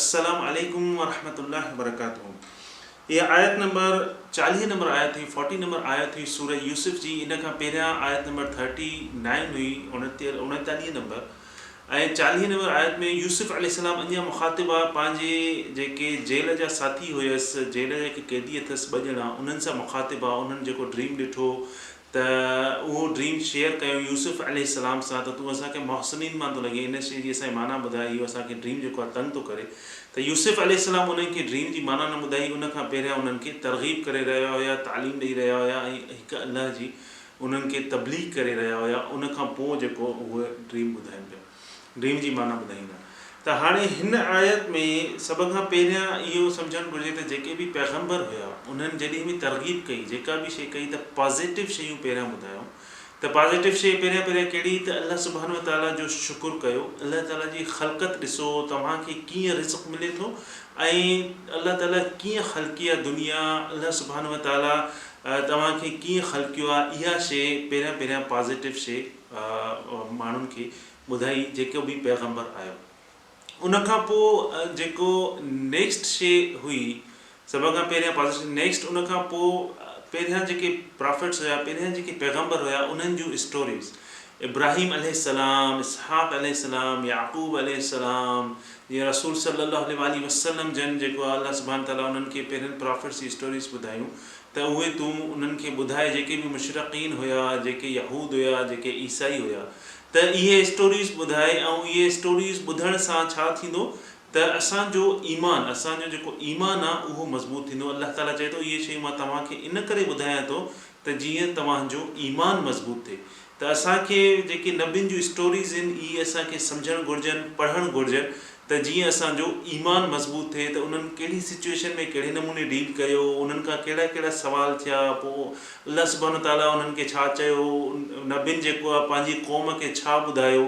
السلام عليڪم ورحمة الله وبرڪاته اها آيت نمبر چاليهه نمبر آيت هئي فورٽي نمبر آيت هئي سوره يوسف جي ان کان پهريان آيت نمبر ٿرٽي نائن هئي اوڻيتاليهه نمبر ۽ چاليهه نمبر آيت ۾ يوسف عليه السلام اڃا مخاطب آ پنهنجي جيڪي جيل جا ساٿي هيس جيل جا جيڪي قيدي اٿس ٻه ڄڻا انهن سان مخاطب آ انهن جيڪو ڊريم ڏٺو ته اهو ڊريم شيئر ڪيو يوسف عليه السلام سان ته تون اسان کي محسنين مان ٿو لڳين ان شيء جي اسان کي معنيٰ ٻڌاء اهو اسان کي ڊريم جيڪو آهي تنگ ٿو ڪري ته يوسف عليه السلام انهن کي ڊريم جي معنيٰ نه ٻڌائي ان کان پهريان انهن کي ترغيب ڪري رهيا هيا تعليم ڏئي رهيا هيا ۽ هڪ الله جي انهن کي تبليغ ڪري رهيا هيا ان کان پوء جيڪو اهو ڊريم ٻڌايو ويو. ڊريم جي معنيٰ ٻڌائيندا ته هاڻي هن آيت ۾ سڀ کان پهريان اهو سمجهڻ گهرجي ته جيڪي به پيغمبر هيا انهن جڏهن به ترغيب ڪئي جيڪا به شيء ڪئي ته پازيٽو شيون پهريان ٻڌايائون ته پازيٽو شيء پهريان پهريان ڪهڙي ته الله سبحانه وتعاليٰ جو شڪر ڪيو الله تعاليٰ جي خلقت ڏسو توهان کي ڪيئن رزق ملي ٿو ۽ الله تعاليٰ ڪيئن خلقي آهي دنيا الله سبحانه وتعاليٰ توهان کي ڪيئن خلقيو آهي اها شيء پهريان پهريان پازيٽو شيء ماڻهن کي ٻڌائي جيڪو به پيغمبر آيو ان کان پوء جيڪو نيڪسٽ شي هئي سڀ کان پهريان پازيشن نيڪسٽ ان کان پوء پهريان جيڪي پرافٽس هيا پهريان جيڪي پيغمبر هيا انهن جون اسٽوريز ابراهيم عليه السلام اسحاق عليه السلام يعقوب عليه السلام جي رسول صلي الله عليه وآله وسلم جن جيڪو الله سبحانه تعالي انهن کي پهرين پرافٽس جي اسٽوريز ٻڌايون ته اهي تون انهن کي ٻڌاء جيڪي به مشرقين هيا جيڪي يهود هيا جيڪي عيسائي هيا ته اهي اسٽوريز ٻڌاء ۽ اهي اسٽوريز ٻڌڻ سان ڇا ٿيندو ته اسان جو ايمان اسان جو جيڪو ايمان آ اهو مضبوط ٿيندو الله تعالي چئي ٿو اهي شيون مان توهان کي ان ڪري ٻڌايان ٿو ته جيئن توهان جو ايمان مضبوط ٿئي ته اسان کي جيڪي نبين جون اسٽوريز ان اهي اسان کي سمجهڻ گهرجن پڙهڻ گهرجن ته جيئن اسان جو ايمان مضبوط ٿئي ته انهن ڪهڙي سچوئيشن ۾ ڪهڙي نموني ڊيل ڪيو انهن کان ڪهڙا ڪهڙا سوال ٿيا پوء الله سبحانه وتعاليٰ انهن کي ڇا چيو نبين جيڪو آهي پنهنجي قوم کي ڇا ٻڌايو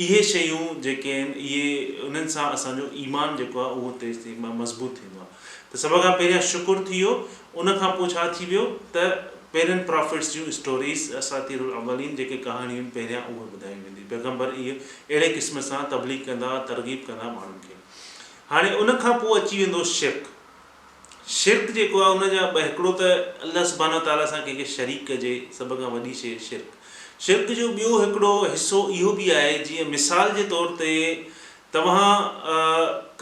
اهي شيون جيڪي آهن اهي انهن سان اسان جو ايمان جيڪو آهي اهو تيز ٿي مضبوط ٿيندو آهي. ته سڀ کان پهريان شڪر ٿي ويو ان کان پوء ڇا ٿي ويو ته پهرين پرافيٽس جون اسٽوريز اساطير الاولين جيڪي ڪهاڻيون پهريان اهي ٻڌايون وينديون پيغمبر اهي اهڙي قسم سان تبليغ ڪندا ها ترغيب ڪندا ها ماڻهن کي هاڻي ان کان پوء اچي ويندو شرڪ شرڪ جيڪو آهي ان جا ٻه هڪڙو ته الله سبحانه وتعالي سان ڪنهن کي شريڪ ڪجي سڀ کان وڏي شي شرڪ شرڪ جو ٻيو هڪڙو حصو اهو به آهي جيئن مثال جي طور تي توهان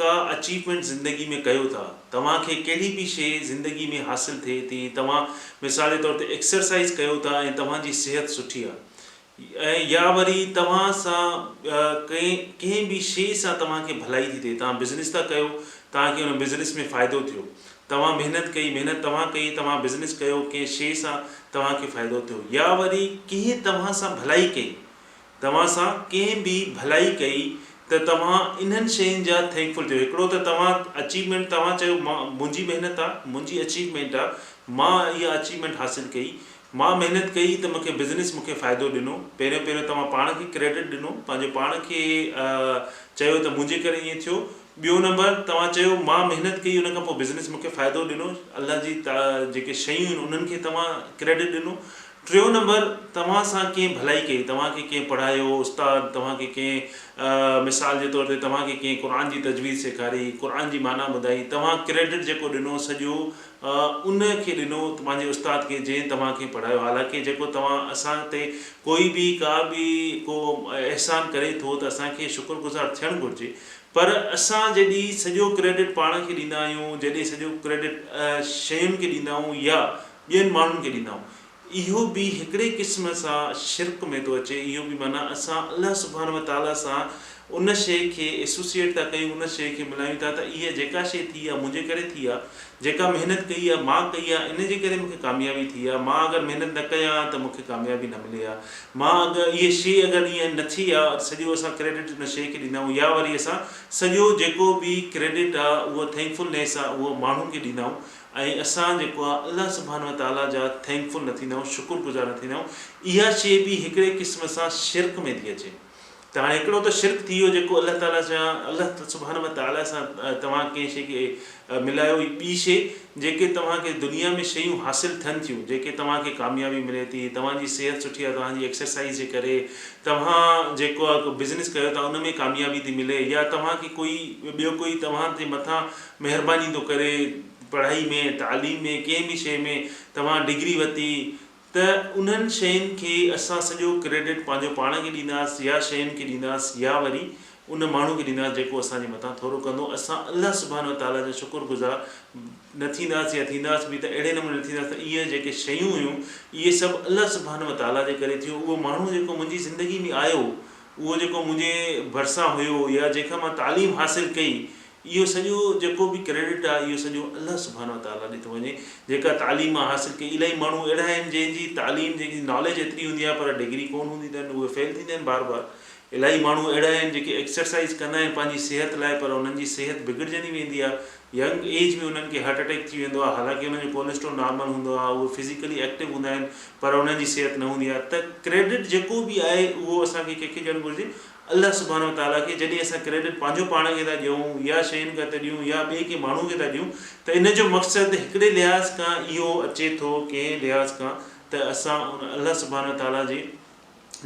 ڪا اچيومينٽ زندگي ۾ ڪيو ٿا، توهان کي ڪهڙي به شيء زندگي ۾ حاصل ٿئي ٿي، توهان مثال جي طور تي ايڪسرسائيز ڪيو ٿا ۽ توهان جي صحت سٺي آهي ۽ يا وري توهان سان ڪنهن ڪنهن به شيء سان توهان کي ڀلائي ٿي ٿئي، توهان بزنس ٿا ڪيو، توهان کي ان بزنس ۾ فائدو ٿيو، توهان محنت ڪئي، محنت توهان ڪئي، توهان بزنس ڪيو، ڪنهن شيء سان توهان کي فائدو ٿيو يا وري ڪنهن توهان سان ڀلائي ڪئي، توهان سان ڪنهن به ڀلائي ڪئي ته توهان انهن شين جا ٿينڪفل ٿيو هڪڙو ته توهان اچيومينٽ توهان چيو مان منهنجي محنت آ منهنجي اچيومينٽ آ مان اها اچيومينٽ حاصل ڪئي مان محنت ڪئي ته مونکي بزنس مونکي فائدو ڏنو پهريون پهريون توهان پاڻ کي ڪريڊٽ ڏنو پنهنجو پاڻ کي چيو ته منهنجي ڪري ائين ٿيو ٻيو نمبر توهان چيو مان محنت ڪئي ان کان پوء بزنس مونکي فائدو ڏنو الله جي جيڪي شيون آهن انهن کي توهان ڪريڊٽ ڏنو ٽيون نمبر توهان سان ڪنهن ڀلائي ڪئي، توهان کي ڪنهن پڙهايو، استاد توهان کي ڪنهن مثال جي طور تي توهان کي ڪنهن قرآن جي تجويد سيکاري، قرآن جي معنيٰ ٻڌائي، توهان ڪريڊٽ جيڪو ڏنو سڄو ان کي ڏنو پنهنجي استاد کي جنهن توهان کي پڙهايو حالانڪه جيڪو توهان اسان تي ڪوئي به ڪا به ڪو احسان ڪري ٿو ته اسان کي شڪر گذار ٿيڻ گهرجي پر اسان جڏي سڄو ڪريڊٽ پاڻ کي ڏيندا آهيون جڏي سڄو ڪريڊٽ شين کي ڏيندا آهيون يا ٻين ماڻهن کي ڏيندا آهيون اهو به هڪڙي قسم سان شرڪ ۾ ٿو اچي اهو به معنيٰ اسان الله سبحانه وتعالٰي سان ان شيء کي Associate ٿا ڪيون ان شيء کي ملايون ٿا ته اها جيڪا شيء ٿي آهي منهنجي ڪري ٿي آهي جيڪا محنت ڪئي آهي مان ڪئي آهي ان جي ڪري مون کي ڪاميابي ٿي آهي مان اگر محنت نه ڪيان ها ته مون کي ڪاميابي نه ملي ها مان اگر اهي شيء اگر ايئن نه ٿي ها سڄو اسان ڪريڊٽ ان شيء کي ڏيندا آهيون يا وري اسان سڄو جيڪو به ڪريڊٽ آهي اهو Thankfulness آهي اهو ماڻهن کي ڏيندا آهيون ۽ اسان جيڪو آ الله سبحانه وتعاليٰ جا ٿينڪ فل نه ٿيندا آهيون شڪر گذار نه ٿيندا آهيون اها شي به هڪڙي قسم سان شرڪ ۾ ٿي اچي ته هاڻي هڪڙو ته شرڪ ٿي ويو جيڪو الله تعاليٰ سان الله سبحانه وتعاليٰ سان توهان ڪنهن شي کي ملايو هي ٻي شي جيڪي توهان کي دنيا ۾ شيون حاصل ٿين ٿيون جيڪي توهان کي ڪاميابي ملي ٿي توهان جي صحت سٺي آ توهان جي ايڪسرسائيز جي ڪري توهان جيڪو آ ڪو بزنس ڪيو ٿا ان ۾ ڪاميابي ٿي ملي يا توهان کي ڪوئي ٻيو ڪوئي توهان جي مٿان مهرباني ٿو ڪري پڙهائي ۾ تعليم ۾ ڪنهن به شيء ۾ توهان ڊگري ورتي ته انهن شين کي اسان سڄو ڪريڊٽ پنهنجو پاڻ کي ڏينداس يا شين کي ڏينداس يا وري ان ماڻهو کي ڏينداس جيڪو اسان جي مٿان ٿورو ڪندو اسان الله سبحانه وتعاليٰ جا شڪر گذار نه ٿينداس يا ٿينداس به ته اهڙي نموني نه ٿينداس ته اهي جيڪي شيون هيون اهي سڀ الله سبحانه وتعاليٰ جي ڪري ٿيو اهو ماڻهو جيڪو منهنجي زندگي ۾ آيو اهو جيڪو منهنجي ڀرسان هيو يا جنهن کان مان تعليم حاصل ڪئي اهو سڄو جيڪو به ڪريڊٽ آهي اهو سڄو الله سبحانه وتعالٰي ڏي ٿو وڃي جيڪا تعليم مان حاصل ڪئي الائي ماڻهو اهڙا آهن جنهن جي تعليم جنهن جي ناليج ايتري هوندي آهي پر ڊگري ڪون هوندي اٿن اهي فيل ٿيندا آهن بار بار الائي ماڻهو اهڙا آهن جيڪي ايڪسرسائيز ڪندا آهن پنهنجي صحت لاء پر انهن جي صحت بگڙجندي ويندي آهي ينگ ايج ۾ انهن کي هارٽ اٽيڪ ٿي ويندو آهي حالانڪه انهن جو ڪوليسٽرول نارمل هوندو آهي اهي فزيڪلي ايڪٽو هوندا آهن پر انهن جي صحت نه هوندي آهي ته ڪريڊٽ جيڪو به آهي اهو اسان کي ڪنهن کي ڏيڻ گهرجي الله سبحانه وتعاليٰ کي جڏهن اسان ڪريڊٽ پنهنجو پاڻ کي ٿا ڏيون يا شين کي ٿا ڏيون يا ٻئي ڪنهن ماڻهو کي ٿا ڏيون ته ان جو مقصد هڪڙي لحاظ کان اهو اچي ٿو ڪنهن لحاظ کان ته اسان ان الله سبحانه وتعاليٰ جي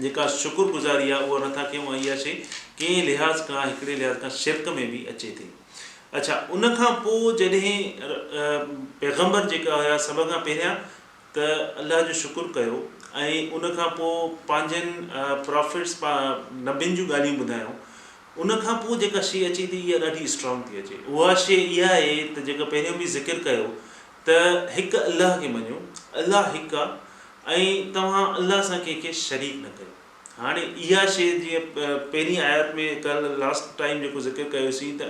جيڪا شڪر گذاري آهي اها نٿا ڪيون ۽ اها شيء ڪنهن لحاظ کان هڪڙي لحاظ کان شرڪ ۾ به اچي ٿي. اڇا ان کان پوء جڏهن پيغمبر جيڪا هيا سڀ کان پهريان. ته الله جو شڪر ڪيو ۽ ان کان پوء پنهنجن پرافٽس نبين جون ڳالهيون ٻڌايائون ان کان پوء جيڪا شيء اچي ٿي اها ڏاڍي اسٽرانگ ٿي اچي اها شيء اها آهي ته جيڪا پهريون به ذڪر ڪيو ته هڪ الله کي مڃو الله هڪ آهي ۽ توهان الله سان ڪنهن کي شريڪ نه ڪيو هاڻي اها شيء جيئن پهرين آيات ۾ ڪل لاسٽ ٽائيم جيڪو ذڪر ڪيوسين ته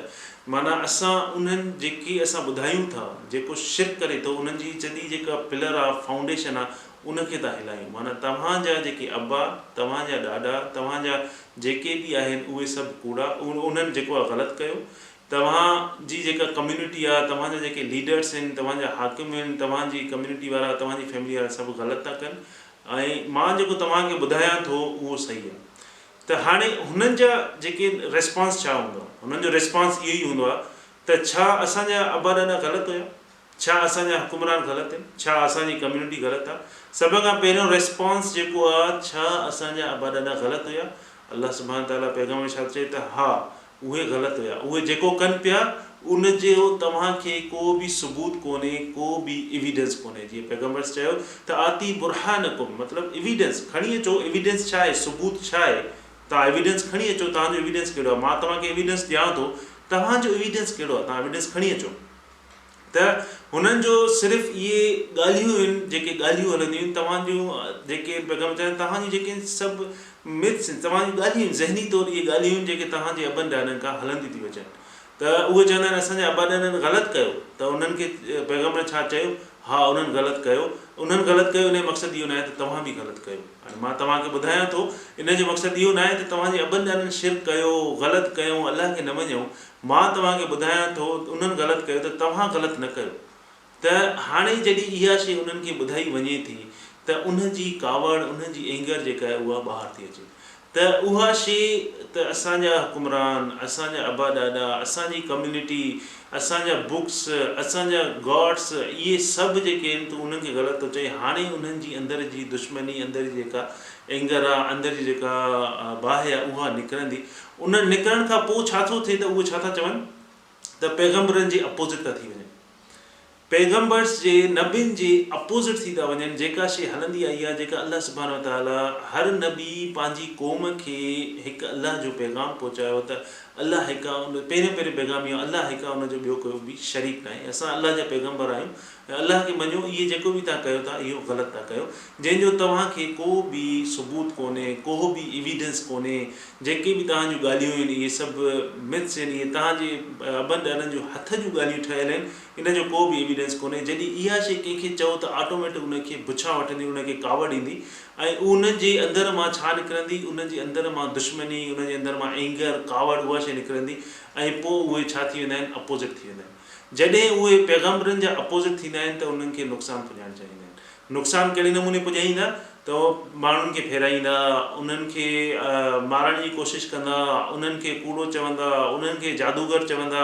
معنيٰ اسان انهن جيڪي اسان ٻڌايون ٿا جيڪو شرڪ ڪري ٿو انهن جي چدي جيڪا پلر آهي فائونڊيشن آهي ان کي ٿا هلايون معنيٰ توهان جا جيڪي ابا توهان جا ڏاڏا توهان جا جيڪي به آهن اهي سڀ ڪوڙا انهن جيڪو آهي غلط ڪيو توهان جي جيڪا ڪميونٽي آهي توهان جا جيڪي ليڊرس آهن توهان جا حاڪم آهن توهان جي ڪميونٽي وارا توهان جي فيملي وارا سڀ غلط ٿا ڪن ۽ مان جيڪو توهان کي ٻڌايان ٿو اهو صحيح آهي ته هاڻي هنن جا جيڪي ريسپانس ڇا هوندا هنن جو ريسپانس اهو ئي هوندو آهي ته ڇا اسان جا ابا ڏاڏا غلط هيا ڇا اسان جا حڪمران غلط هين ڇا اسان جي ڪميونٽي غلط آهي سڀ کان پهريون ريسپانس جيڪو آهي ڇا اسان جا ابا ڏاڏا غلط هيا الله سبحانه تعالٰي پيغمبر ارشاد چئي ته ها اهي غلط هيا اهي جيڪو ڪن پيا ان جو توهان کي ڪو به ثبوت ڪونهي ڪو به ايويڊنس ڪونهي جيئن پيغمبر ص چيو ته آتي برهانڪم مطلب ايويڊنس کڻي اچو ايويڊنس ڇا آهي ثبوت ڇا آهي توهان ايويڊنس کڻي اچو توهان جو ايويڊنس ڪهڙو آهي مان توهان کي ايويڊنس ڏيان ٿو توهان جو ايويڊنس ڪهڙو آهي توهان ايويڊنس کڻي اچو ته هنن جو صرف اهي ڳالهيون هين جيڪي ڳالهيون هلنديون هين توهان جون جيڪي پيغام چيا توهان جون جيڪي سڀ مٿس هين توهان جون ڳالهيون هين ذهني طور اهي ڳالهيون هين جيڪي توهان جي ابن ڏاڏن کان هلنديون ٿي اچن ته اهي چوندا هين اسان جي ابا ڏاڏن غلط ڪيو ته انهن کي پيغمبرن ڇا چيو ها انهن غلط ڪيو انهن غلط ڪيو ان جو مقصد اهو ناهي ته توهان به غلط ڪيو هاڻي مان توهان کي ٻڌايان ٿو ان جو مقصد اهو ناهي ته توهان جي ابن ڏاڏن شرڪ ڪيو غلط ڪيو الله کي نه مڃيو مان توهان کي ٻڌايان ٿو ته انهن غلط ڪيو ته توهان غلط نه ڪيو ته هاڻي جڏهن اها شيء انهن کي ٻڌائي وڃي ٿي ته انهن جي ڪاوڙ انهن جي Anger جيڪا آهي اها ٻاهر ٿي اچي ته اها شيء ته اسان جا حڪمران اسان جا ابا ڏاڏا اسان جي ڪميونٽي اسان جا Books اسان جا Gods اهي سڀ جيڪي آهن تون انهن کي غلط ٿو چئين هاڻي انهن جي اندر جي دشمني اندر جي جيڪا Anger آهي اندر جي جيڪا باهه آهي اها نڪرندي ان نڪرڻ کان پوء ڇا ٿو ٿئي ته اهي ڇا ٿا چون ته پيغمبرن جي اپوزٽ ٿا ٿي وڃن. پيغمبرس جي نبين جي اپوزٽ ٿي ٿا وڃن جيڪا شيء هلندي آئي آهي جيڪا الله سبحانه وتعاليٰ هر نبي پنهنجي قوم کي هڪ الله جو پيغام پهچايو ته الله هڪ آهي ان پهريون پهريون پيغام اهو آهي الله هڪ آهي ان جو ٻيو ڪوئي به شريڪ ناهي اسان الله جا پيغمبر آهيون ۽ الله کي مڃو، اهي جيڪو به توهان ڪيو ٿا، اهو غلط ٿا ڪيو، جنهن جو توهان کي ڪو به ثبوت ڪونهي، ڪوهه به Evidence ڪونهي، جيڪي به توهان جون ڳالهيون آهن، اهي سڀ Myths آهن، اهي توهان جي ابن ڏاڏن جون هٿ جون ڳالهيون ٺهيل آهن، ان جو ڪو به Evidence ڪونهي، جڏهن اها شيء ڪنهن کي چئو ته آٽوميٽڪ ان کي بڇان وٺندي، ان کي ڪاوڙ ايندي، ۽ ان جي اندر مان ڇا نڪرندي، ان جي اندر مان دشمني، ان جي اندر مان Anger، ڪاوڙ، اها شيء نڪرندي، ۽ پوء اهي ڇا ٿي ويندا آهن، Opposite ٿي ويندا آهن. جڏهن اهي پيغمبرن جا اپوزٽ ٿيندا آهن ته انهن کي نقصان پڄائڻ چاهيندا آهن. نقصان ڪهڙي نموني پڄائيندا ته ماڻهن کي ڦيرائيندا، انهن کي مارڻ جي ڪوشش ڪندا، انهن کي ڪوڙو چوندا، انهن کي جادوگر چوندا،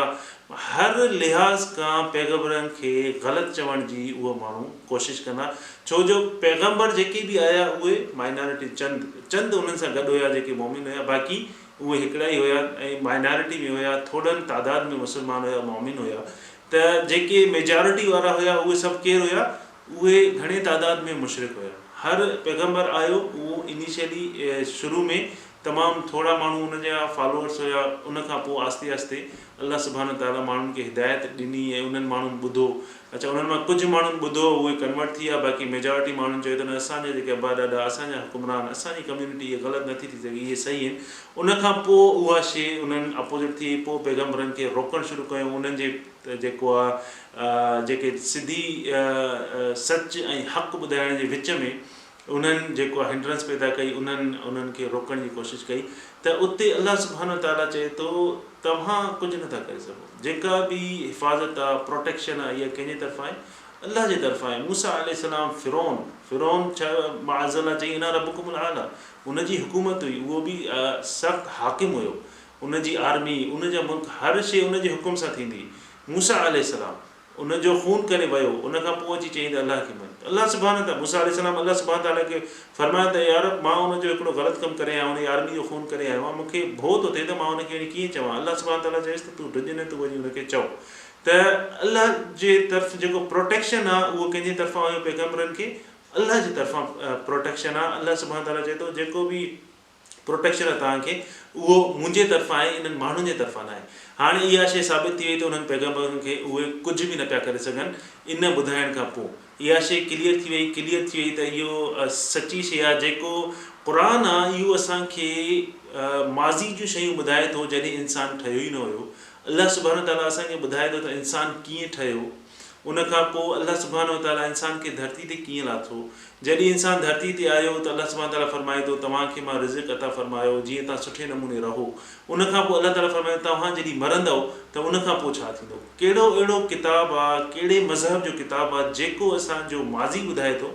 هر لحاظ کان پيغمبرن کي غلط چوڻ جي اهي ماڻهو ڪوشش ڪندا ڇو جو پيغمبر جيڪي به آيا اهي مائنارٽي چند چند انهن سان گڏ هيا جيڪي مؤمن هيا باقي اهي هڪڙا ئي هيا ۽ مائنارٽي ۾ هيا، ٿورڙن تعداد ۾ مسلمان هيا، مؤمن هيا ته جيڪي ميجارٽي وارا هيا اهي سڀ ڪير هيا؟ اهي گهڻي تعداد ۾ مشرڪ هيا. هر پيغمبر آيو اهو انيشلي شروع ۾ تمام ٿورڙا ماڻهو ان جا فالوورس هيا ان کان پوء آهستي آهستي الله سبحانه تعاليٰ ماڻهن کي هدايت ڏني ۽ انهن ماڻهن ٻڌو اڇا انهن مان ڪجهه ماڻهن ٻڌو اهي ڪنورٽ ٿي ويا باقي ميجارٽي ماڻهن چيو ته نه اسان جا جيڪي ابا ڏاڏا اسان جا حڪمران اسان جي ڪميونٽي اهي غلط نٿي ٿي سگهي اهي صحيح آهن ان کان پوء اها شي انهن اپوزٽ ٿي وئي پوء پيغمبرن کي روڪڻ شروع ڪيو انهن جي جيڪو آهي جيڪي سڌي سچ ۽ حق ٻڌائڻ جي وچ ۾ انهن جيڪو آ هنڊرنس پيدا ڪئي انهن انهن کي روڪڻ جي ڪوشش ڪئي ته اتي الله سبحانه وتعاليٰ چئي ٿو توهان ڪجهه نٿا ڪري سگهو جيڪا به حفاظت آ پروٽيڪشن آ اها ڪنهن جي طرفان آهي الله جي طرفان آهي موسيٰ عليه السلام فرعون فرعون ڇا معاذ الله چئي انا ربڪم الاعليٰ ان جي حڪومت هئي اهو به سخت حاڪم هيو ان جي آرمي ان جا ملڪ هر شي ان جي حڪم سان ٿيندي موسيٰ عليه السلام ان جو خون ڪري ويو ان کان پوء اچي چيائين ته الله کي مڃ ته الله سبحانه ته موسيٰ عليه السلام الله سبحانه تعالٰي کي فرمايو ته يا رب مان ان جو هڪڙو غلط ڪم ڪري آيو آهيان ان جي آرمي جو خون ڪري آيو آهيان مون کي ڀؤ ٿو ٿئي ته مان ان کي وڃي ڪيئن چوان الله سبحانه تعالٰي چيس ته تون ڊڄ نه تون وڃي ان کي چئو ته الله جي طرف جيڪو پروٽيڪشن آهي اهو ڪنهن جي طرفان هيو پيغمبرن کي الله جي طرفان پروٽيڪشن آهي الله سبحانه تعالٰي چئي ٿو جيڪو به پروٽيڪشن لاء توهان کي اهو منهنجي طرفان آهي انهن ماڻهن جي طرفان ناهي. هاڻ اها شيء ثابت ٿي وئي ته انهن پيغمبرن کي اهي ڪجهه به نه پيا ڪري سگهن ان ٻڌائڻ کان پوء. اها شيء ڪليئر ٿي وئي، ڪليئر ٿي وئي ته اهو سچي شيء آهي جيڪو قرآن آهي اهو اسان کي ماضي جون شيون ٻڌائي ٿو جڏهن انسان ٺهيو ئي نه هيو. الله سبحانه تعاليٰ اسان کي ٻڌائي ٿو ته انسان ڪيئن ٺهيو. ان کان پوء الله سبحانه وتعاليٰ انسان کي ڌرتي تي ڪيئن لاٿو؟ جڏهن انسان ڌرتي تي آيو ته الله سبحانه وتعاليٰ فرمائي ٿو توهان کي مان رزق عطا فرمايو جيئن توهان سٺي نموني رهو. ان کان پوء الله تعاليٰ فرمائي ٿو توهان جڏهن مرندؤ ته ان کان پوء ڇا ٿيندو؟ ڪهڙو اهڙو ڪتاب آ، ڪهڙي مذهب جو ڪتاب آ جيڪو اسان جو ماضي ٻڌائي ٿو،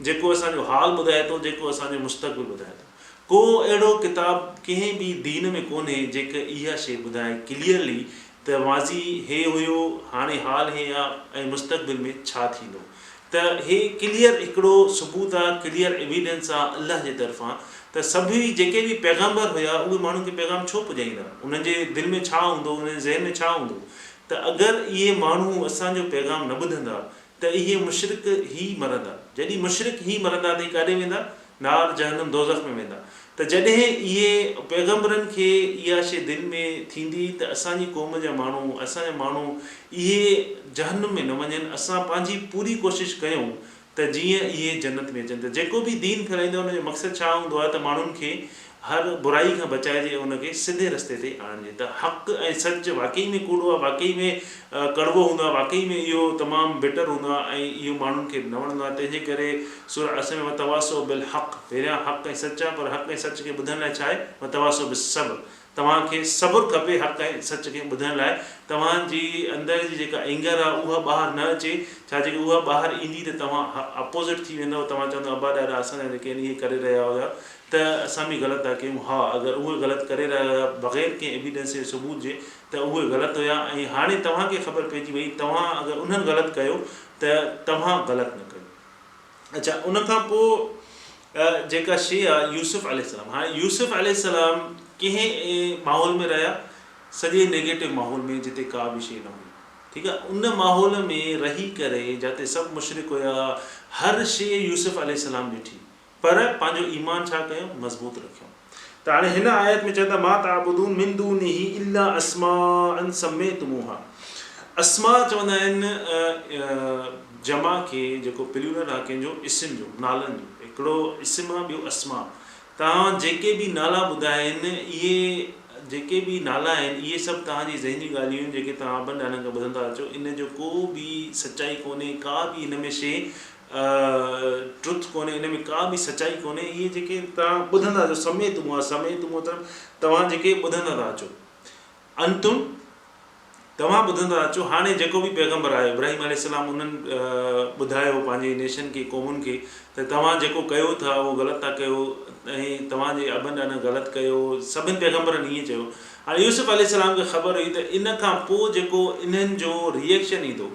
جيڪو اسان جو حال ٻڌائي ٿو، جيڪو اسان جو مستقبل ٻڌائي ٿو؟ ڪو اهڙو ڪتاب ڪنهن ٻي دين ۾ ڪونهي جيڪي اها شيء ٻڌائي، Clearly، ته ماضي هي هيو، هاڻي حال هي آ ۽ مستقبل ۾ ڇا ٿيندو ته هي ڪليئر هڪڙو ثبوت آ، ڪليئر ايويڊنس آ الله جي طرفان ته سڀ ئي جيڪي به پيغمبر هيا اهي ماڻهن کي پيغام ڇو پڄائيندا، انهن جي دل ۾ ڇا هوندو، انهن جي ذهن ۾ ڇا هوندو ته اگر اهي ماڻهو اسان جو پيغام نه ٻڌندا ته اهي مشرڪ هي مرندا. جڏهن مشرڪ هي مرندا ته اهي ڪاڏي ويندا؟ نار جهنم دوزخ ۾ ويندا. ته جڏهن اهي، پيغمبرن، کي اها شيء دل ۾ ٿيندي ته اسان جي قوم جا ماڻهو، اسان جا ماڻهو، اهي جهنم ۾ نه وڃن، اسان پنهنجي پوري ڪوشش ڪيون ته جيئن اهي جنت ۾ اچن. ته جيڪو به دين ڦهلائيندو آهي ان جو مقصد ڇا هوندو آهي ته ماڻهن کي هر برائي کان بچائجي ۽ ان کي سڌي رستي تي آڻجي ته حق ۽ سچ واقعي ۾ ڪوڙو آهي، واقعي ۾ ڪڙوو هوندو آهي، واقعي ۾ اهو تمام بٽر هوندو آهي ۽ اهو ماڻهن کي نه وڻندو آهي تنهنجي ڪري سوره اسم ۾ وتواصوا بالحق پهريان حق ۽ سچ آهي پر حق ۽ سچ کي ٻڌڻ لاء ڇا آهي وتواصوا بالصبر توهان کي صبر کپي حق ۽ سچ کي ٻڌڻ لاء توهان جي اندر جي جيڪا Anger آهي اها ٻاهر نه اچي ڇا جيڪڏهن اها ٻاهر ايندي ته توهان Opposite ٿي ويندؤ توهان چوندؤ ابا ڏاڏا اسان سان جيڪي آهن اهي ڪري رهيا هيا ته اسان به غلط ٿا ڪيون، ها اگر اهي غلط ڪري رهيا هيا بغير ڪنهن ايويڊنس يا ثبوت جي ته اهي غلط هيا ۽ هاڻي توهان کي خبر پئجي وئي توهان اگر انهن غلط ڪيو ته توهان غلط نه ڪيو اڇا ان کان پوء جيڪا شي آ يوسف عليه السلام هاڻي يوسف عليه السلام ڪنهن ماحول ۾ رهيا سڄي نيگيٽو ماحول ۾ جتي ڪا به شي نه هئي ٺيڪ آ ان ماحول ۾ رهي ڪري جاتي سڀ مشرڪ هيا هر شي يوسف عليه السلام ڏٺي پر پنهنجو ايمان ڇا ڪيو؟ مضبوط رکيو. ته هاڻي هن آيت ۾ چون ٿا ما تعبدون من دونه الا اسماء سميتموها اسماء چوندا آهن جمع کي جيڪو پليورل آهي ڪنهن جو اسم جو نالن جو هڪڙو اسم آهي ٻيو اسماء توهان جيڪي به نالا ٻڌا آهن اهي جيڪي به نالا آهن اهي سڀ توهان جي ذهني ڳالهيون آهن جيڪي توهان ابن ڏاڏن کان ٻڌندا اچو ان جو ڪو به سچائي ڪونهي ڪا به ان ۾ شيء ٽروٿ ڪونهي ان ۾ ڪا به سچائي ڪونهي اهي جيڪي توهان ٻڌندا جو سميت مون سميت مون مطلب توهان جيڪي ٻڌندا ٿا اچو انتم توهان ٻڌندا ٿا اچو هاڻي جيڪو به پيغمبر آيو ابراهيم عليه السلام انهن ٻڌايو پنهنجي نيشن کي قومن کي ته توهان جيڪو ڪيو ٿا اهو غلط ٿا ڪيو ۽ توهان جي ابن ڏاڏن غلط ڪيو سڀن پيغمبرن ائين چيو هاڻي يوسف عليه السلام کي خبر هئي ته ان کان پوء جيڪو انهن جو ريئيڪشن ايندو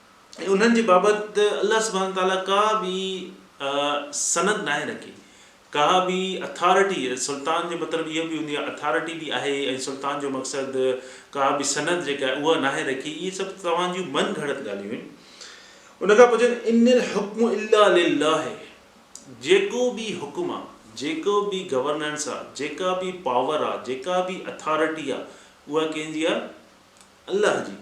۽ انهن جي بابت الله سبحانه وتعاليٰ ڪا به سند ناهي رکي، ڪا به اٿارٽي، سلطان جو مطلب اهو به هوندي آهي اٿارٽي به آهي ۽ سلطان جو مقصد ڪا به سند جيڪا آهي اها ناهي رکي، اهي سڀ توهان جون من گهڙت ڳالهيون آهن. ان کان پوء چون ان الحڪم الا لله جيڪو به حڪم آهي، جيڪو به گورننس آهي، جيڪا به پاور آهي، جيڪا به اٿارٽي آهي اها ڪنهن جي آهي؟ الله جي.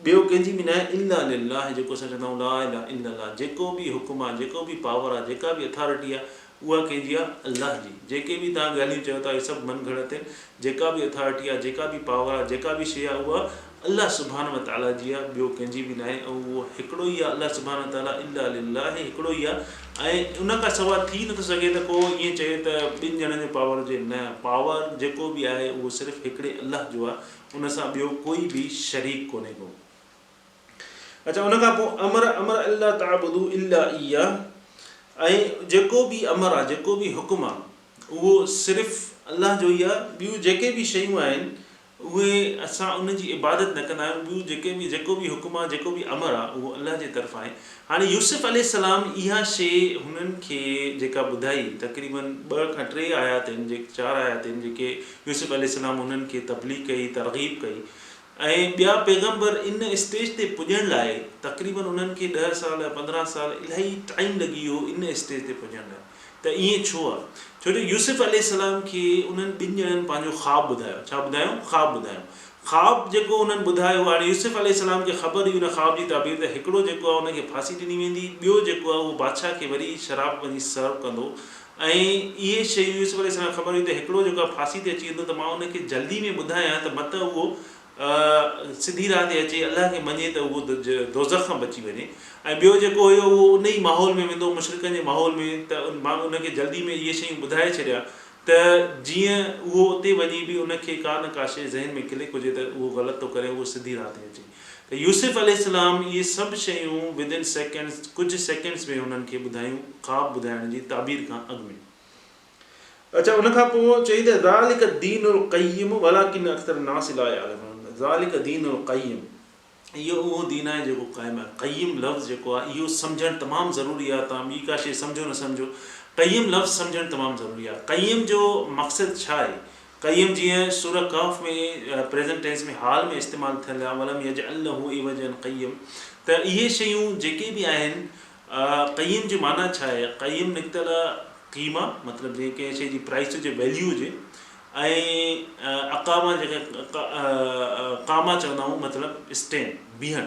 ٻيو ڪنهن جي به نه آهي الا لله جيڪو اسان چوندا آهيون لا اله الا الله جيڪو به حڪم آهي جيڪو به پاور آهي جيڪا به اٿارٽي آهي اها ڪنهن جي آهي الله جي جيڪي به توهان ڳالهيون چيو ٿا اهي سڀ من گهڙت آهن جيڪا به اٿارٽي آهي جيڪا به پاور آهي جيڪا به شيء آهي اها الله سبحانه وتعالٰي جي آهي ٻيو ڪنهن جي به نه آهي ۽ اهو هڪڙو ئي آهي الله سبحانه وتعالٰي الا لله هڪڙو ئي آهي ۽ ان کان سواء ٿي نٿو سگهي ته ڪو ائين چئي ته ٻن ڄڻن جو پاور هجي نه پاور جيڪو به آهي اهو صرف هڪڙي الله جو آهي ان سان ٻيو ڪوئي به شريڪ ڪونهي ڪو. اچا ان کان پوء امر امر الا تعبدو الا اياه ۽ جيڪو به امر آ جيڪو به حڪم آ اهو صرف الله جو ئي آ ٻيون جيڪي به شيون آهن اهي اسان ان جي عبادت نه ڪندا آهيون ٻيون جيڪي به جيڪو به حڪم آ جيڪو به امر آ اهو الله جي طرفان آهي هاڻي يوسف عليه السلام اها شي هنن کي جيڪا ٻڌائي تقريبن ٻه کان ٽي آيات آهن چار آيات آهن جيڪي يوسف عليه السلام انهن کي تبليغ ڪئي، ترغيب ڪئي ۽ ٻيا پيغمبر ان اسٽيج تي پڄڻ لاء تقريبن انهن کي ڏهه سال يا پندرهن سال الاهي ٽائيم لڳي ويو ان اسٽيج تي پڄڻ لاء ته ائين ڇو آهي؟ ڇو جو يوسف عليه السلام کي انهن ٻن ڄڻن پنهنجو خواب ٻڌايو، ڇا ٻڌايائون؟ خواب ٻڌايائون، خواب جيڪو انهن ٻڌايو هاڻي يوسف عليه السلام کي خبر هئي ان خواب جي تعبير ته هڪڙو جيڪو آهي ان کي ڦاسي ڏني ويندي ٻيو جيڪو آهي اهو بادشاهه کي وري شراب وڃي سرو ڪندو ۽ اهي شيون يوسف عليه السلام کي خبر هئي ته هڪڙو جيڪو آهي ڦاسي تي اچي ويندو ته مان ان کي جلدي ۾ ٻڌايان ته مت اهو سڌي راهه تي اچي الله کي مڃي ته اهو دوزخ کان بچي وڃي ۽ ٻيو جيڪو هيو اهو ان ئي ماحول ۾ ويندو مشرڪن جي ماحول ۾ ته مان ان کي جلدي ۾ اهي شيون ٻڌائي ڇڏيان ته جيئن اهو اتي وڃي به ان کي ڪا نه ڪا شيء ذهن ۾ ڪلڪ هجي ته اهو غلط ٿو ڪري اهو سڌي راهه تي اچي ته يوسف عليه السلام اهي سڀ شيون Within Seconds ڪجهه سيڪنڊس ۾ هنن کي ٻڌايون خواب ٻڌائڻ جي تعبير کان اڳ ۾. اڇا ان کان پوء چئي ته ذلک الدين القيم ولڪن اڪثر الناس لا يعلمون ذلک الدين القيم اهو اهو دين آهي جيڪو قائم آهي قيم لفظ جيڪو آهي اهو سمجهڻ تمام ضروري آهي تان ٻي ڪا شيء سمجهو نه سمجهو قيم لفظ سمجهڻ تمام ضروري آهي قيم جو مقصد ڇا آهي قيم جيئن سوره ڪهف ۾ پريزنٽ ٽينس ۾ حال ۾ استعمال ٿيل آهي ولم يجعل له عوجا قيم ته اهي شيون جيڪي به آهن قيم جي معنيٰ ڇا آهي قيم نڪتل قيمه مطلب جيئن ڪنهن شي جي پرائس هجي ويليو هجي ۽ اقامه جيڪا قامه چوندا آهيون مطلب اسٽينڊ بيهڻ.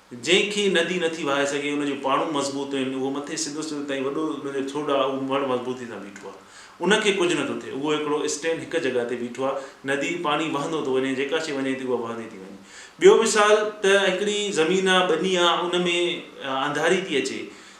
جنهن کي ندي نٿي وهائي سگهي، ان جون پاڙون مضبوط آهن، اهو مٿي سڌو سنڌ تائين وڏو ان جو ٿڙ آهي، اهو مڙ مضبوطي سان بيٺو آهي. ان کي ڪجهه نٿو ٿئي. اهو هڪڙو اسٽين هڪ جڳهه تي بيٺو آهي. ندي، پاڻي وهندو ٿو وڃي، جيڪا شيء وڃي ٿي، اها وهندي ٿي وڃي. ٻيو مثال ته هڪڙي زمين آهي، ٻني آهي، ان ۾ انڌاري ٿي اچي،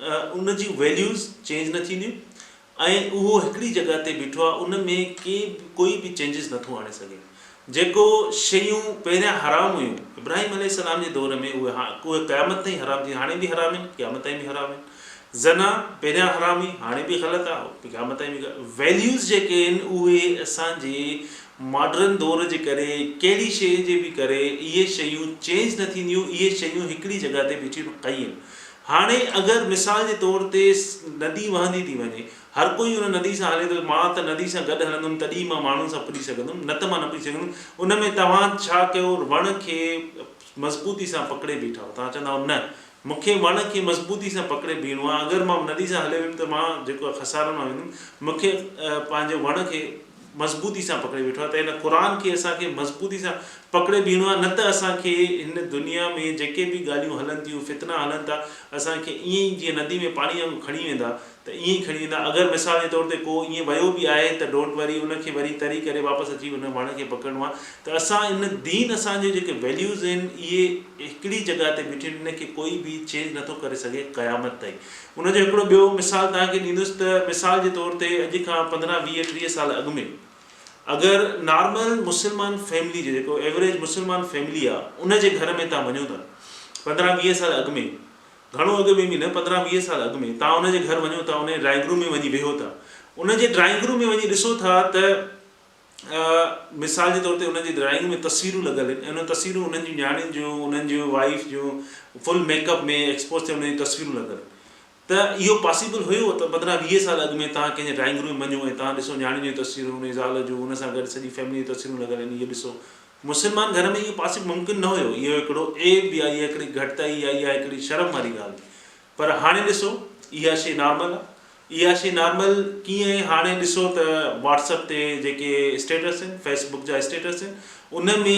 ان جون ويليوز چينج نه ٿينديون ۽ اهو هڪڙي جڳهه تي بيٺو آهي ان ۾ ڪي به ڪوئي به چينجز نٿو آڻي سگهي جيڪو شيون پهريان حرام هيون ابراهيم عليه السلام جي دور ۾ اهي اهي قيامت تائين حرام ٿينديون هاڻي به حرام آهن قيامت تائين به حرام آهن زنا پهريان حرام هئي هاڻي به غلط آهي قيامت تائين به ويليوز جيڪي آهن اهي اسان جي ماڊرن دور جي ڪري ڪهڙي شيء جي به ڪري اهي شيون چينج نه ٿينديون اهي شيون هڪڙي جڳهه تي بيٺيون آهن قيم هاڻي اگر مثال جي طور تي ندي وهندي ٿي وڃي، هر ڪوئي ان ندي سان هلي ٿو، مان ته ندي سان گڏ هلندم تڏهن ئي مان ماڻهن سان پڄي سگهندم، نه ته مان نه پڄي سگهندم، ان ۾ توهان ڇا ڪيو وڻ کي مضبوطي سان پڪڙي بيٺائو، توهان چوندائو نه مون کي وڻ کي مضبوطي سان پڪڙي بيهڻو آهي، اگر مان ندي سان هلي ويم ته مان جيڪو آهي خسارن مان ويندم، مون کي پنهنجي وڻ کي. مضبوطي سان پڪڙي ويٺو آهي ته هن قرآن کي اسان کي مضبوطي سان پڪڙي بيهڻو آهي نه ته اسان کي هن دنيا ۾ جيڪي به ڳالهيون هلن ٿيون فتنا هلن ٿا اسان کي ائين ئي جيئن ندي ۾ پاڻي وانگو کڻي ويندا ته ائين ئي کڻي ويندا اگر مثال جي طور تي ڪو ائين ويو به آهي ته ڊونٽ وري ان کي وري تري ڪري واپس اچي ان وڻ کي پڪڙڻو آهي ته اسان ان دين اسان جي جيڪي ويليوز آهن اهي هڪڙي جڳهه تي بيٺيون آهن ان کي ڪوئي به چينج نٿو ڪري سگهي قيامت تائين ان جو هڪڙو ٻيو مثال توهان کي ڏيندس ته مثال جي طور تي اڄ کان پندرهن ويهه ٽيهه سال اڳ ۾ اگر نارمل مسلمان فيملي جو جيڪو ايوريج مسلمان فيملي آ ان جي گهر ۾ توهان وڃو ٿا پندرهن ويهه سال اڳ ۾ گهڻو اڳ ۾ به نه پندرهن ويهه سال اڳ ۾ توهان ان جي گهر وڃو ٿا ان جي ڊرائنگ روم ۾ وڃي ويهو ٿا ان جي ڊرائنگ روم ۾ وڃي ڏسو ٿا ته مثال جي طور تي انهن جي ڊرائنگ ۾ تصويرون لڳل آهن ۽ انهن تصويرون انهن جون نياڻين جون انهن جون وائيف جون فل ميڪ اپ ۾ ايڪسپوز ٿيل انهن جون تصويرون لڳل آهن ته اهو پاسيبل هيو ته پندرهن ويهه سال اڳ ۾ توهان ڪنهن جي ڊرائنگ روم ۾ وڃو ۽ توهان ڏسو نياڻين جون تصويرون انهن جي زال جون ان سان گڏ سڄي فيملي جون تصويرون لڳل آهن اهي ڏسو مسلمان گهر ۾ اهو پاسيبل ممڪن نه هيو اهو هڪڙو عيب يا اها هڪڙي گهٽتائي يا اها هڪڙي شرم واري ڳالهه پر هاڻي ڏسو اها شي نارمل آ اها شي نارمل ڪيئن هاڻي ڏسو ته واٽس اپ تي جيڪي اسٽيٽس آهن فيس بڪ جا اسٽيٽس آهن ان ۾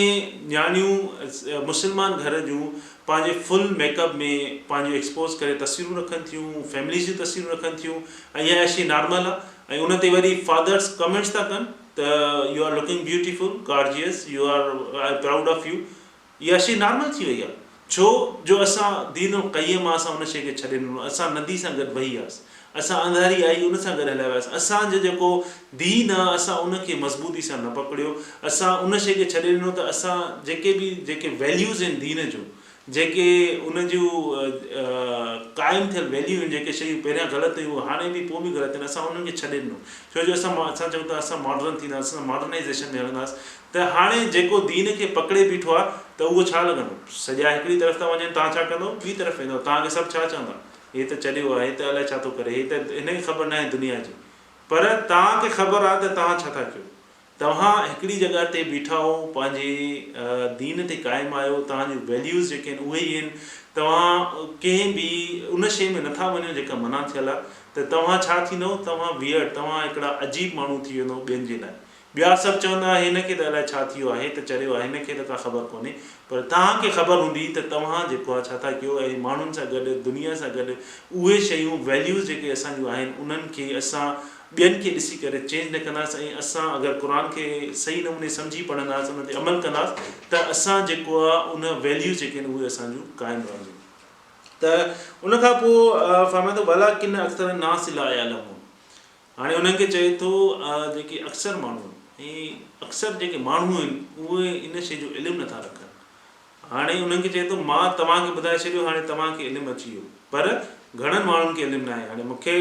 نياڻيون مسلمان گهر جون پنهنجي فل ميڪ اپ ۾ پنهنجو ايڪسپوز ڪري تصويرون رکن ٿيون فيمليز جون تصويرون رکن ٿيون ۽ اها شي نارمل آ ۽ ان تي وري فادرس ڪمينٽس ٿا ڪن ته you are looking beautiful gorgeous you are I am proud of you اها شيء نارمل ٿي وئي آهي، ڇو جو اسان دين القيم آ، اسان ان شيء کي ڇڏي ڏنو، اسان ندي سان گڏ وهي وياس، اسان انڌاري آئي ان سان گڏ هليا وياس، اسان جو جيڪو دين آ، اسان ان کي مضبوطي سان نه پڪڙيو، اسان ان شيء کي ڇڏي ڏنو ته اسان جيڪي به جيڪي ويليوز آهن دين جون، جيڪي ان جون قائم ٿيل ويليو آهن، جيڪي شيون پهريان غلط هيون، هاڻي به پوء به غلط آهن، اسان انهن کي ڇڏي ڏنو، ڇو جو اسان اسان چئون ٿا اسان ماڊرن ٿينداسين، اسان ماڊرنائيزيشن ۾ هلنداسين، ته هاڻي جيڪو دين کي پڪڙي بيٺو آهي ته اهو ڇا لڳندو؟ سڄا هڪڙي طرف ٿا وڃن، تان ڇا ڪندو؟ ٻي طرف ويندو، تان کي سڀ ڇا چوندا؟ هي ته چريو آهي، هي ته الائي ڇا ٿو ڪري، هي ته هن کي خبر ناهي دنيا جي. پر تان کي خبر آهي ته تان ڇا ٿا ڪيو. توهان هڪڙي جڳهه تي بيٺا آهو، پنهنجي دين تي قائم آهيو، توهان جون ويليوز جيڪي آهن اهي ئي آهن، توهان ڪنهن به ان شيء ۾ نٿا وڃو جيڪا منع ٿيل آهي، ته توهان ڇا ٿيندو؟ توهان ويئرڊ، توهان هڪڙا عجيب ماڻهو ٿي ويندو ٻين جي لاء. ٻيا سڀ چوندا ها هن کي ته الائي ڇا ٿي ويو آهي ته چريو آهي هن کي ته ڪا خبر ڪونهي پر توهان کي خبر هوندي ته توهان جيڪو آهي ڇا ٿا ڪيو ۽ ماڻهن سان گڏ دنيا سان گڏ اهي شيون Values جيڪي اسان جون آهن انهن کي اسان ٻين کي ڏسي ڪري چينج نه ڪنداس ۽ اسان اگر قرآن کي صحيح نموني سمجهي پڙهنداس ان تي عمل ڪنداس ته اسان جيڪو آهي ان Values جيڪي آهن اهي اسان جون قائم رهنديون ته ان کان پوء فرمائي ٿو ولڪن اڪثر الناس لا يعلمون هاڻي انهن کي چئي ٿو جيڪي اڪثر ماڻهو ۽ اڪثر جيڪي ماڻهو آهن اهي ان شيء جو علم نٿا رکن هاڻي انهن کي چئي ٿو مان توهان کي ٻڌائي ڇڏيو هاڻي توهان کي علم اچي ويو پر گهڻن ماڻهن کي علم ناهي هاڻي مون کي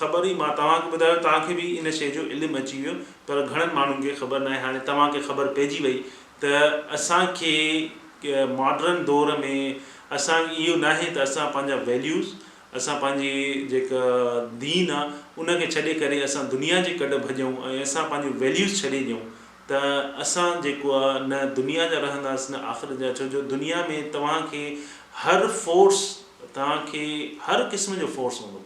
خبر هئي مان توهان کي ٻڌايو توهان کي به ان شيء جو علم اچي ويو پر گهڻن ماڻهن کي خبر ناهي هاڻي توهان کي خبر پئجي وئي ته اسان کي ماڊرن دور ۾ اسان اهو ناهي ته اسان پنهنجا ويليوز اسان پنهنجي جيڪا دين آ ان کي ڇڏي ڪري اسان دنيا جي ڪڍ ڀڄون ۽ اسان پنهنجون ويليوز ڇڏي ڏيون ته اسان جيڪو آ نه دنيا جا رهنداس نه آخرت جا ڇو جو دنيا ۾ توهان کي هر فورس توهان کي هر قسم جو فورس هوندو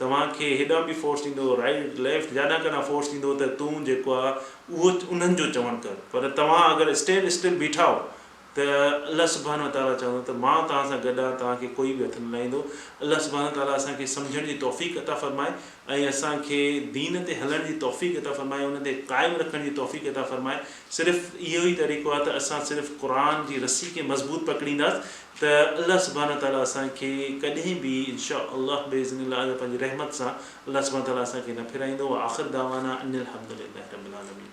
توهان کي هيڏان به فورس ڏيندو رائيٽ ليفٽ جاڏان ڪڏان فورس ڏيندو ته تون جيڪو آ اهو انهن جو چوڻ ڪر پر توهان اگر اسٽيل اسٽل بيٺا آهو ته الله سبحانه وتعاليٰ چوندو ته مان توهان سان گڏ آهيان توهان کي ڪوئي به هٿ نه لائيندو. الله سبحانه وتعاليٰ اسان کي سمجهڻ جي توفيق عطا فرمائي ۽ اسان کي دين تي هلڻ جي توفيق عطا فرمائي ان تي قائم رکڻ جي توفيق عطا فرمائي صرف اهو ئي طريقو آهي ته اسان صرف قرآن جي رسي کي مضبوط پڪڙينداس ته الله سبحانه وتعاليٰ اسان کي ڪڏهن به ان شاء الله باذن الله اذا پنهنجي رحمت سان الله سبحانه وتعاليٰ اسان کي نه ڦيرائيندو واخر دعوانا ان الحمد لله رب العالمين.